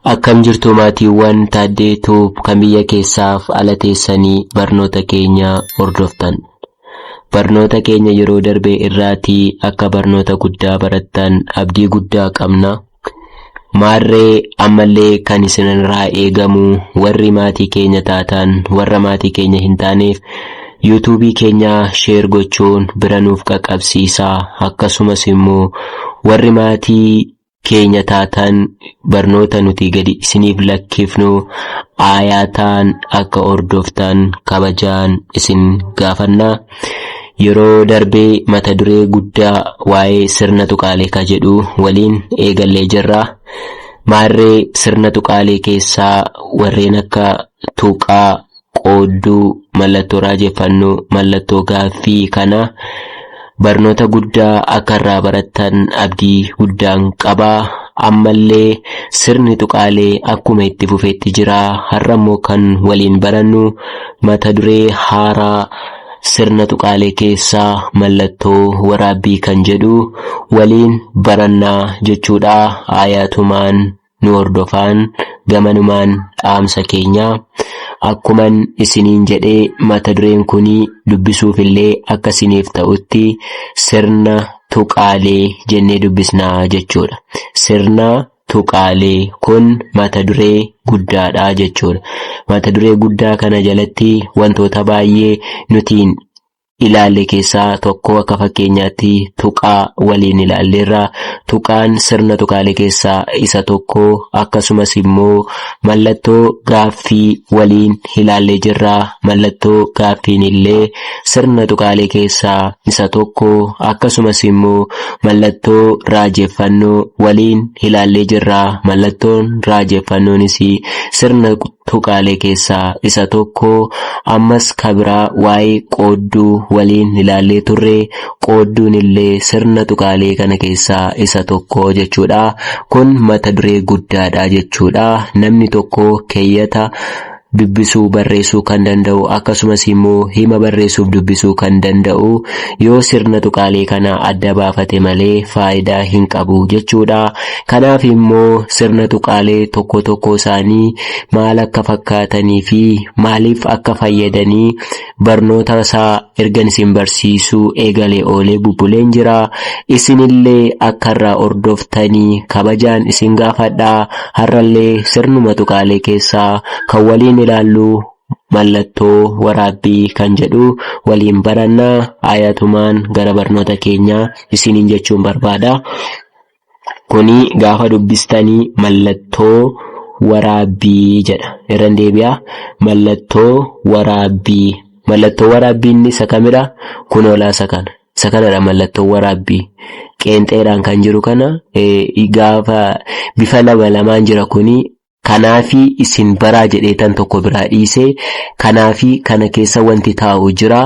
Akkam jirtu maatiiwwan Taaddee Tube kan biyya keessaaf ala teessanii barnoota keenya hordoftan. Barnoota keenya yeroo darbee irraatii akka barnoota guddaa barattan abdii guddaa qabna. Maarree ammallee kan isinirraa eegamu warri maatii keenya taatan warra maatii keenya hin taaneef yuutuubii keenya sheer gochuun bira nuuf qaqqabsiisaa akkasumas immoo warri maatii keenya taataan barnoota nuti gadi isiniif lakkifnu aayaataan akka hordoftan kabajaan isin gaafanna. Yeroo darbee mata duree guddaa waa'ee sirna tuqaalee ka jedhu waliin eegallee jirra. Maarree sirna tuqaalee keessaa warreen akka tuqaa, qoodduu mallattoo raajeffannoo mallattoo gaaffii kana barnoota guddaa akka irraa barattan abdii guddaan qaba. Ammallee sirni tuqaalee akkuma itti fufetti jira. Har'a immoo kan waliin barannu mata duree haaraa sirna tuqaalee keessaa mallattoo waraabbii kan jedhu waliin barannaa jechuudha. Aayaatumaan nu hordofaan gamanumaan dhaamsa keenya. Akkuman isiniin jedhe mata dureen kun dubbisuufillee akka isiniif ta'utti sirna tuqaalee jennee dubbisna jechuudha. Sirna tuqaalee kun mata duree guddaadha jechuudha. Mata duree guddaa kana jalatti wantoota baay'ee nutiin ilaalle keessaa tokko akka fakkeenyaatti tuqaa waliin ilaalleerra. Tuqaan sirna tuqaalee keessaa isa tokko akkasumas immoo mallattoo gaaffii waliin ilaallee jirra. Mallattoo gaaffiin illee sirna tuqaalee keessaa isa tokko akkasumas immoo mallattoo raajeffannoo waliin ilaallee jirra. Mallattoon raajeffannoonis sirna tuqaalee keessaa isa tokko. Ammas ka biraa waa'ee qoodduu waliin ilaallee turre. Qoodduun illee sirna tuqaalee kana keessaa isa tokko jechuu dha. Kun mata duree guddaa dha jechuu dha. Namni tokko keeyyata dubbisuu barreessuu kan danda'u akkasumas immoo hima barreessuuf dubbisuu kan danda'u yoo sirna tuqaalee kana adda baafate malee faayidaa hin qabu jechuu dha. Kanaaf immoo sirna tuqaalee tokko tokkoo isaanii maal akka fakkaatanii fi maaliif akka fayyadanii barnoota isaa ergan isin barsiisuu eegalee oolee bubbuleen jira. Isinillee akka irraa hordoftanii kabajaan isin gaafadha. Har'allee sirnuma tuqaalee keessaa kan waliin ilaallu mallattoo waraabbii kan jedhu waliin baranna. Ayatumaan gara barnoota keenyaa isiniin jechuun barbaada. Kuni gaafa dubbistani mallattoo waraabbii jedha. Irran deebi'a. Mallattoo waraabbii. Mallattoo waraabbii inni isa kamidha? Kunoolaa isa kana. Isa kanadha mallattoo waraabbii. Qeenxeedhaan kan jiru kana gaafa bifa lama lamaan jira kuni Kanaafi isin baraa jedheetan tokko biraa dhiise, kanaafi kana keessa wanti taa'u jira,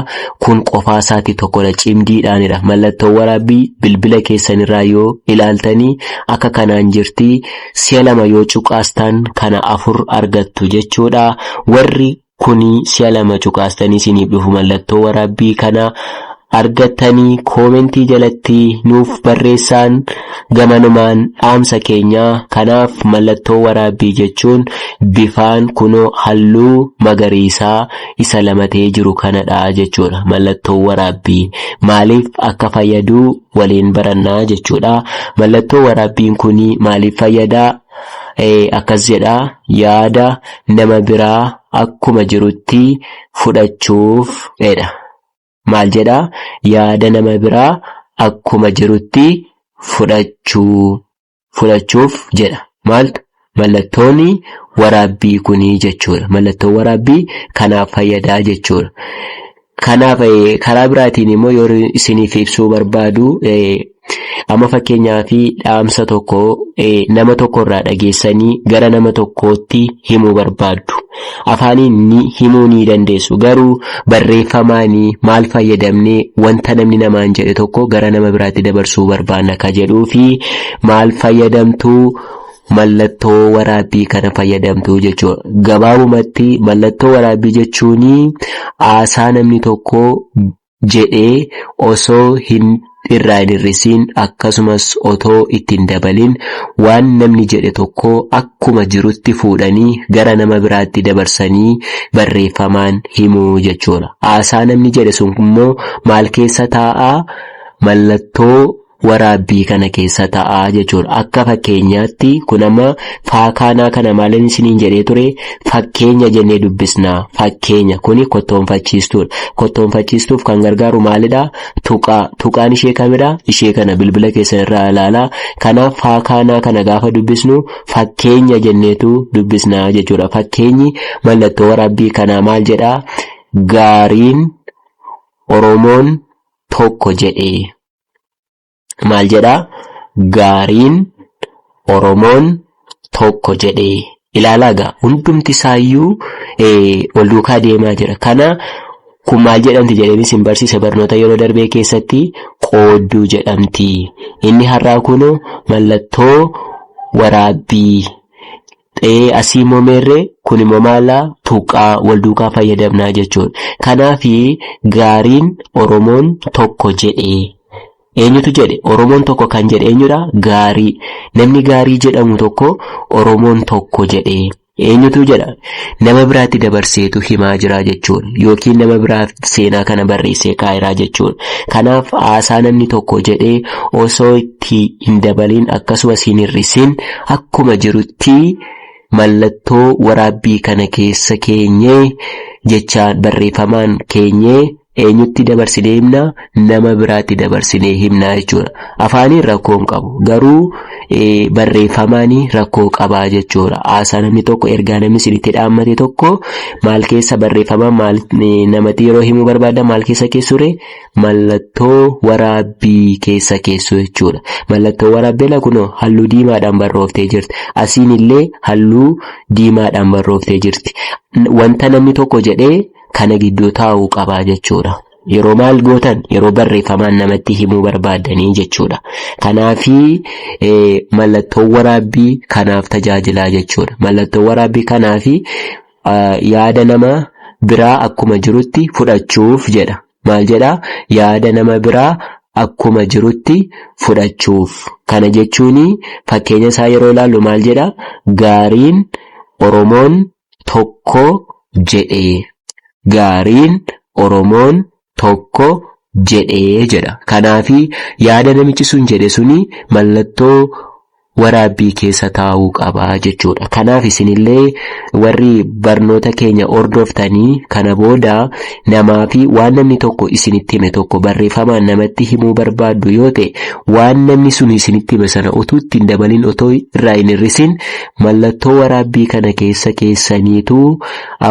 kun qofaasaatti tokkodha, cimdiidhaanidha. Mallattoowaraabbii bilbila keessanirraa yoo ilaaltani akka kanaan jirti, si'a lama yoo cuqaastan kana afur argattu jechuudha. Warri kuni si'a lama cuqaastanii isiniif dhufu mallattoo waraabbii kana argattanii koomentii jalatti nuuf barreessaan gamanumaan dhaamsa keenya kanaaf mallattoo waraabbii jechuun bifaan kunoo halluu magariisaa isa lama ta'ee jiru kanadha jechuudha mallattoo waraabbii maaliif akka fayyaduu waliin barannaa jechuudha mallattoo waraabbiin kuni maaliif fayyadaa Akkas jedha, Yaada nama biraa akkuma jirutti fudhachuuf jedha. Maal jedha? Yaada nama biraa akkuma jirutti fudhachuu, fudhachuuf jedha. Maaltu? Mallattoon waraabbii kuni jechuudha. Mallattoon waraabbii kanaaf fayyada jechuudha. Kanaaf karaa biraatiin immoo yoo isiniif ibsuu barbaadu amma fakkeenyaaf dhaamsa tokko nama tokko irraa dhageessanii gara nama tokkootti himuu barbaaddu. Afaaniin ni himuu ni dandeessu garuu barreeffamaan maal fayyadamnee wanta namni namaan jedhe tokko gara nama biraatti dabarsuu barbaanna ka jedhuu fi maal fayyadamtuu mallattoo waraabbii kana fayyadamtu jechuudha. Gabaabumatti mallattoo waraabbii jechuun haasaa namni tokko jedhee osoo hin irraa hin hir'isiin akkasumas otoo itti hin dabalin waan namni jedhe tokko akkuma jirutti fuudhanii gara nama biraatti dabarsanii barreeffamaan himuu jechuudha. Haasaa namni jedhe sun immoo maal keessa taa'aa mallattoo waraabbii kana keessa ta'a jechuudha. Akka fakkeenyaatti kun amma faakaanaa kana maalin isiniin jedhee ture fakkeenya jennee dubbisna. Fakkeenya kuni kottoonfachiistuudha. Kottoonfachiistuuf kan gargaaru maalidha? Tuqaa. Tuqaan ishee kamidha? Ishee kana bilbila keessan irraa ilaalaa. Kanaaf faakaanaa kana gaafa dubbisnu fakkeenya jenneetu dubbisna jechuudha. Fakkeenyi mallattoo waraabbii kanaa maal jedhaa? Gaariin Oromoon tokko jedhee. maal jedhaa gaariin oromoon tokko jedhee ilaalaa gaa hundumti isaayyuu wal duukaa deemaa jira kana kun maal jedhamti jedheen isin barsiisa barnoota yeroo darbee keessatti qoodduu jedhamti inni har'aa kun mallattoo waraabbii Ee asii moo meerree kuni moo maalaa tuqqaa wal duukaa fayyadamnaa jechuun kanaafi gaariin oromoon tokko jedhe eenyutu jedhe oromoon tokko kan jedhe eenyudha gaarii namni gaarii jedhamu tokko oromoon tokko jedhe eenyutu jedha nama biraatti dabarseetu himaa jiraa jechuun yookiin nama biraaf seenaa kana barreessee kaayiraa jechuun kanaaf haasaa namni tokko jedhee osoo itti hin dabaliin akkasumas hin hir'isin akkuma jirutti mallattoo waraabbii kana keessa keenyee jechaan barreeffamaan keenyee eenyutti dabarsinee himna nama biraatti dabarsinee himna jechuudha. Afaaniin rakkoo hin qabu garuu barreeffamaan rakkoo qaba jechuudha. Haasaa namni tokko ergaa namni isinitti dhaammate tokko maal keessa barreeffamaan maal namatti yeroo himuu barbaaddan maal keessa keessure mallattoo waraabbii keessa keessu jechuudha. Mallattoo waraabbiin kun halluu diimaadhaan barrooftee jirti. Asiin illee halluu diimaadhaan barrooftee jirti. Wanta namni tokko jedhee kana gidduu taa'uu qabaa jechuudha. Yeroo maal gootan yeroo barreeffamaan namatti himuu barbaaddanii jechuudha. Kanaafii mallattoo waraabbii kanaaf tajaajilaa jechuudha. Mallattoo waraabbii kanaafii yaada nama biraa akkuma jirutti fudhachuuf jedha. maal jedha? Yaada nama biraa akkuma jirutti fudhachuuf. Kana jechuun fakkeenya isaa yeroo ilaallu maal jedha? Gaariin Oromoon tokko jedhe. Gaariin Oromoon tokko jedhe jedha. Kanaaf yaada namichi sun jedhe suni mallattoo waraabbii keessa taa'uu qaba jechuudha. Kanaaf isinillee warri barnoota keenya hordoftanii kana booda namaa fi waan namni tokko isinitti hime tokko barreeffamaan namatti himuu barbaaddu yoo ta'e waan namni sun isinitti hime sana utuu itti hin dabalin otoo irraa hin hir'isin mallattoo waraabbii kana keessa keessaniitu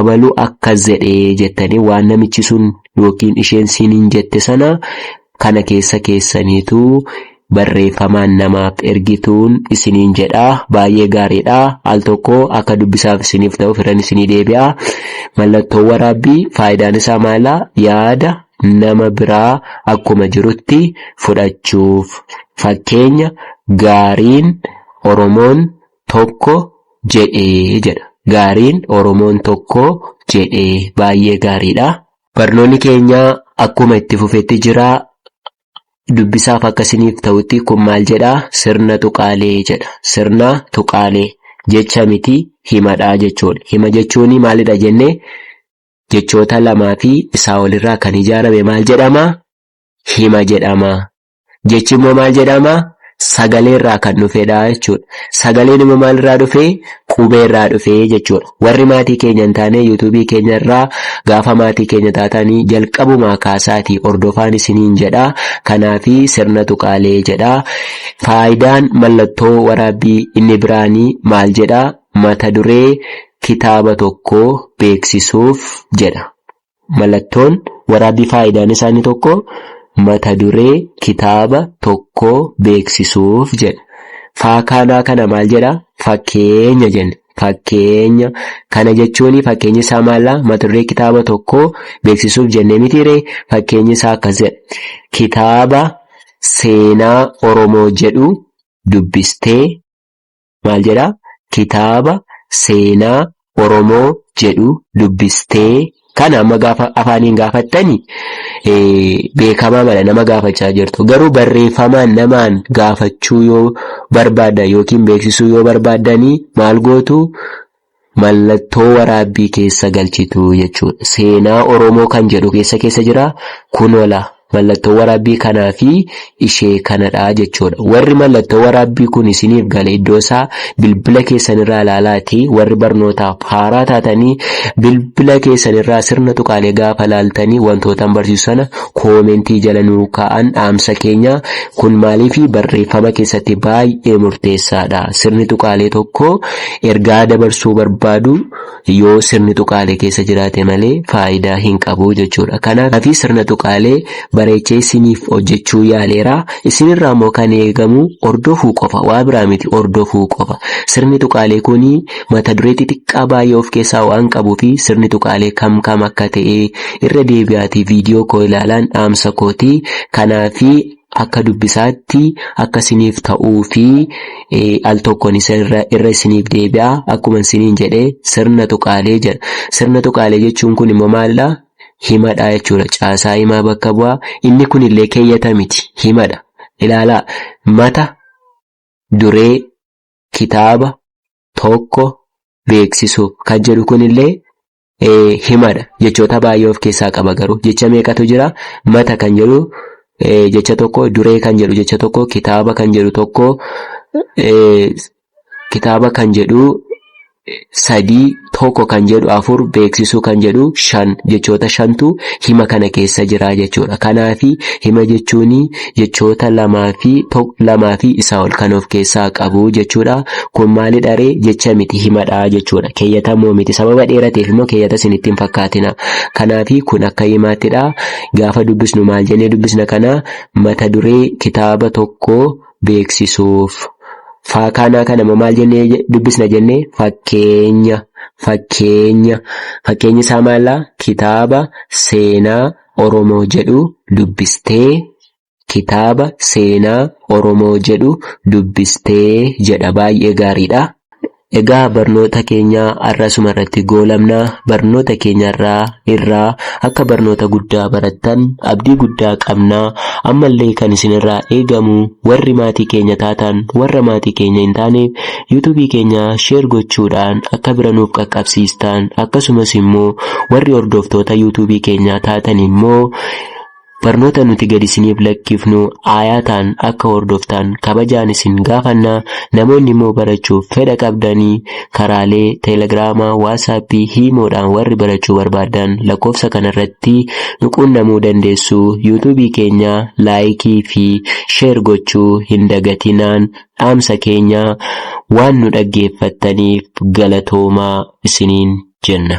abaluu akkas jedhee jettanii waan namichi sun yookiin isheen siiniin jette sana kana keessa keessaniitu barreeffamaan namaaf ergituun isiniin jedha baay'ee gaariidha al tokko akka dubbisaaf isiniif ta'u firan isinii deebi'a mallattoon waraabbii faayidaan isaa maala yaada nama biraa akkuma jirutti fudhachuuf fakkeenya gaariin oromoon tokko jedhee jedha gaariin oromoon tokko jedhee baay'ee gaariidha. Barnoonni keenya akkuma itti fufetti jira. Dubbisaaf akka isiniif ta'utti kun maal jedha? Sirna tuqaalee jedha. Sirna tuqaalee jecha miti himadha jechuudha. Hima jechuun maalidha jenne jechoota lamaa fi isaa olirraa kan ijaarame maal jedhama? Hima jedhama. Jechi immoo maal jedhama? Sagalee irraa kan dhufedha jechuudha. Sagaleen immoo maal irraa dhufe? Qubee irraa dhufe jechuudha. Warri maatii keenya hin taane yuutuubii keenya irraa gaafa maatii keenya taatanii jalqabumaa kaasaatii hordofaan isiniin jedha. Kanaafi sirna tuqaalee jedha. Faayidaan mallattoo waraabbii inni biraanii maal jedha? Mata duree kitaaba tokkoo beeksisuuf jedha. Mallattoon waraabbii faayidaan isaa inni tokko mata duree kitaaba tokkoo beeksisuuf jedha. Faakaanaa kana maal jedha? Fakkeenya jenna. Fakkeenya kana jechuun fakkeenyi isaa maalla? Mata duree kitaaba tokkoo beeksisuuf jennee mitiiree? Fakkeenyi isaa akkas jedha. Kitaaba seenaa Oromoo jedhu dubbistee maal jedha kitaaba seenaa Oromoo jedhu dubbistee kana amma gaafa afaaniin gaafattani beekamaa mala nama gaafachaa jirtu garuu barreeffamaan namaan gaafachuu yoo barbaaddan yookiin beeksisuu yoo barbaaddanii maal gootu Mallattoo waraabbii keessa galchitu jechuudha. Seenaa Oromoo kan jedhu keessa keessa jira. Kunoo laa mallattoo waraabbii kanaa fi ishee kanadha jechuudha. Warri mallattoo waraabbii kun isiniif gale iddoo isaa bilbila keessanirraa ilaalaati. Warri barnootaaf haaraa taatanii bilbila keessanirraa sirna tuqaalee gaafa ilaaltanii wantootaan barsiisu sana koomentii jala nuu kaa'an dhaamsa keenya. Kun maaliif barreeffama keessatti baay'ee murteessaadha. Sirni tuqaalee tokko Ergaa dabarsuu barbaadu yoo sirni tuqaalee keessa jiraate malee faayidaa hin qabu jechuudha. Kanaafi sirna tuqaalee bareechee isiniif hojjechuu yaaleera. Isinirraa immoo kan eegamu hordofuu qofa. Waa biraa miti hordofuu qofa. Sirni tuqaalee kun mata duree xixiqqaa baay'ee of keessaa waan qabuu fi sirni tuqaalee kam kam akka ta'e irra deebi'aatii viidiyoo koo ilaalaan dhaamsa kooti. Kanaafi akka dubbisaatti akka isiniif ta'uu fi al tokkoon isa irra irra isiniif deebi'a akkuma isiniin jedhe sirna tuqaalee jedha. Sirna tuqaalee jechuun kun immoo maalidha? Himadha jechuudha. Caasaa himaa bakka bu'a. Inni kun illee keeyyata miti. Himadha. Ilaalaa mata duree kitaaba tokko beeksisuuf kan jedhu kun illee himadha. Jechoota baay'ee of keessaa qaba garuu. Jecha meeqatu jira? Mata kan jedhu jecha tokko, duree kan jedhu jecha tokko, kitaaba kan jedhu tokko, kitaaba kan jedhu sadii, tokko kan jedhu afur, beeksisuu kan jedhu shan jechoota shantu hima kana keessa jira jechuudha. Kanaafi hima jechuun jechoota lamaa fi tok- lamaa fi isaa ol kan of keessaa qabu jechuudha. Kun maalidha ree? Jecha miti himadha jechuudha. Keeyyata immoo miti. Sababa dheerateef immoo keeyyata isin ittiin fakkaatina. Kanaafi kun akka himaattidha. Gaafa dubbisnu maal jennee dubbisna kana mata duree kitaaba tokko beeksisuuf. Faakaanaa kana immoo maal jennee je- dubbisna jennee fakkeenya fakkeenya fakkeenyi isaa maallaa kitaaba seenaa Oromoo jedhu dubbistee? Kitaaba seenaa Oromoo jedhu dubbistee? jedha. Baay'ee gaariidha. Egaa barnoota keenya har'a asuma irratti goolabna. Barnoota keenya irraa irraa akka barnoota guddaa barattan abdii guddaa qabna. Ammallee kan isinirraa eegamu warri maatii keenya taatan warra maatii keenya hin taaneef YouTube keenya share gochuudhaan akka bira nuuf qaqqabsiistaan akkasumas immoo warri hordoftoota YouTube keenyaa taatan immoo barnoota nuti gad isiniif lakkifnu aayaataan akka hordoftaan kabajaan isin gaafanna namoonni immoo barachuuf fedha qabdanii karaalee teelegiraamaa waasaappii hiimoodhaan warri barachuu barbaadan lakkoofsa kanarratti nu quunnamuu dandeessu yuutuubii keenya laayikii fi sheer gochuu hin dagatinaan dhaamsa keenyaa waan nu dhaggeeffattaniif galatoomaa isiniin jenna.